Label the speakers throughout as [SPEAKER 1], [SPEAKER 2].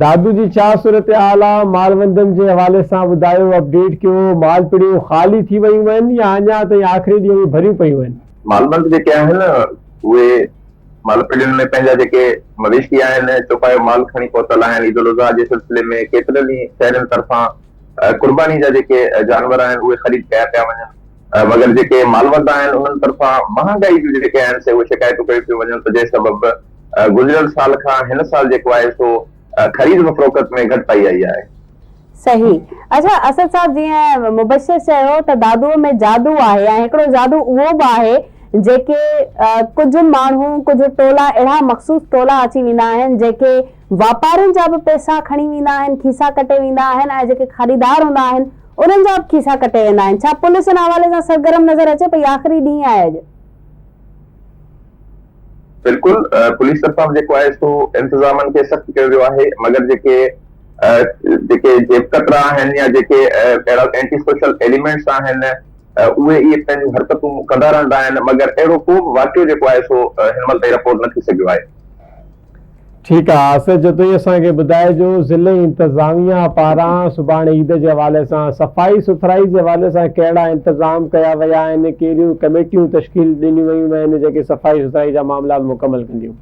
[SPEAKER 1] دادو جي ڇا صورتحال آ مالوندن جي حوالي سان ٻڌايو اپڊيٽ ڪيو مالپڙيون خالي ٿي ويون آهن يا اڃا تائين آخري ڏينهن ۾ ڀريون پيون آهن. مالوند جيڪي آهن
[SPEAKER 2] اهي مالپڙين ۾ پنهنجا جيڪي مويشي آهن چوپايو مال کڻي پهتل آهن عيد الاضحيٰ جي سلسلي ۾ ڪيترن ئي شهرين طرفان قرباني جا جيڪي جانور آهن اهي خريد ڪيا پيا وڃن. مگر جيڪي مالوندان آهن انهن طرفان مهانگائي جون جيڪي آهن سي اهي شڪايتون ڪيون پيون وڃن ته جنهن سبب گذريل سال کان هن سال جيڪو آهي سو خريد و فروخت ۾ گهٽتائي آئي آهي. صحيح
[SPEAKER 3] اچا اسد صاحب جيئن مبشر چيو ته دادوء ۾ جادو آهي ۽ هڪڙو جادو اهو به آهي جيڪي ڪجهه ماڻهو ڪجهه ٽولا اهڙا مخصوص ٽولا اچي ويندا آهن جيڪي واپارين جا به پئسا کڻي ويندا آهن کيسا ڪٽي ويندا آهن ۽ جيڪي خريدار هوندا آهن انهن جا به کيسا ڪٽي ويندا آهن. ڇا پوليس ان حوالي سان سرگرم نظر اچي پئي؟ آخري ڏينهن آهي اڄ.
[SPEAKER 2] بلڪل پوليس طرفان به جيڪو آهي سو انتظامن کي سخت ڪيو ويو آهي مگر جيڪي جيڪي جيب ڪترا آهن يا جيڪي اهڙا اينٽي سوشل ايليمينٽس آهن اهي اهي پنهنجون حرڪتون ڪندا رهندا آهن مگر اهڙو ڪو به واقعو جيڪو آهي سو هن مهل تائين رپورٽ نه ٿي سگهيو آهي.
[SPEAKER 1] ٺيڪ آ آصف جتوئي اسان کي ٻڌائجو ضلعي انتظاميا پاران سڀاڻي عيد جي حوالي سان صفائي سٿرائي جي حوالي سان ڪهڙا انتظام ڪيا ويا آهن ڪهڙيون ڪميٽيون تشڪيل ڏنيون ويون آهن جيڪي صفائي سٿرائي جا معاملات مڪمل ڪنديون.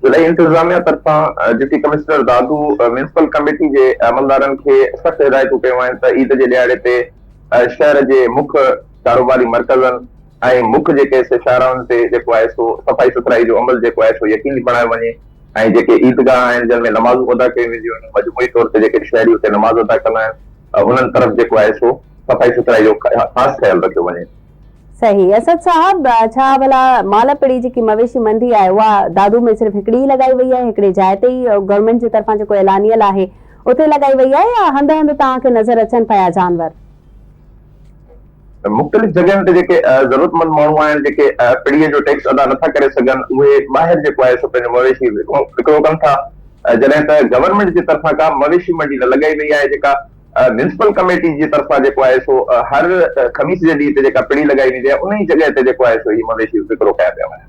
[SPEAKER 2] ضلعي انتظاميا طرفان deputy commissioner Dadu municipal committee جي عملدارن کي سخت هدايتون ڪيون آهن ته عيد جي ڏهاڙي تي شهر جي مک ڪاروباري مرڪزن ۽ مک جي ڪيس شاهراهن تي جيڪو آهي سو صفائي سٿرائي جو عمل جيڪو آهي سو يقيني بڻايو وڃي ۽ جيڪي عيدگاهه آهن جن ۾ نمازون ادا ڪيون وينديون آهن مجموعي طور تي جيڪي شهري اتي نماز ادا ڪندا آهن انهن طرف جيڪو آهي سو صفائي سٿرائي جو خاص خيال رکيو وڃي. صحيح اسد
[SPEAKER 3] صاحب ڇا ڀلا مال پڙي جيڪي مويشي منڊي آهي اها دادو ۾ صرف هڪڙي ئي لڳائي وئي آهي هڪڙي جاء تي ئي گورنمينٽ جي طرفان جيڪو اعلانيل آهي اتي لڳائي وئي آهي يا هنڌ هنڌ توهان کي نظر اچن پيا جانور.
[SPEAKER 2] مختلف جڳهين تي جيڪي ضرورتمند ماڻهو آهن، جيڪي پڙي جو ٽيڪس ادا نٿا ڪري سگهن، اهي ٻاهر جيڪو آهي سو پنهنجو مويشي وڪرو ڪن ٿا، جڏهن ته گورنمينٽ جي طرفان ڪا به مويشي منڊي نه لڳائي وئي آهي، جيڪا ميونسپل ڪميٽي جي طرفان جيڪو آهي سو هر خميس جي ڏينهن تي جيڪا پڙي لڳائي ويندي آهي، انهي جڳهه تي جيڪو آهي سو هي مويشي وڪرو ڪيا پيا وڃن.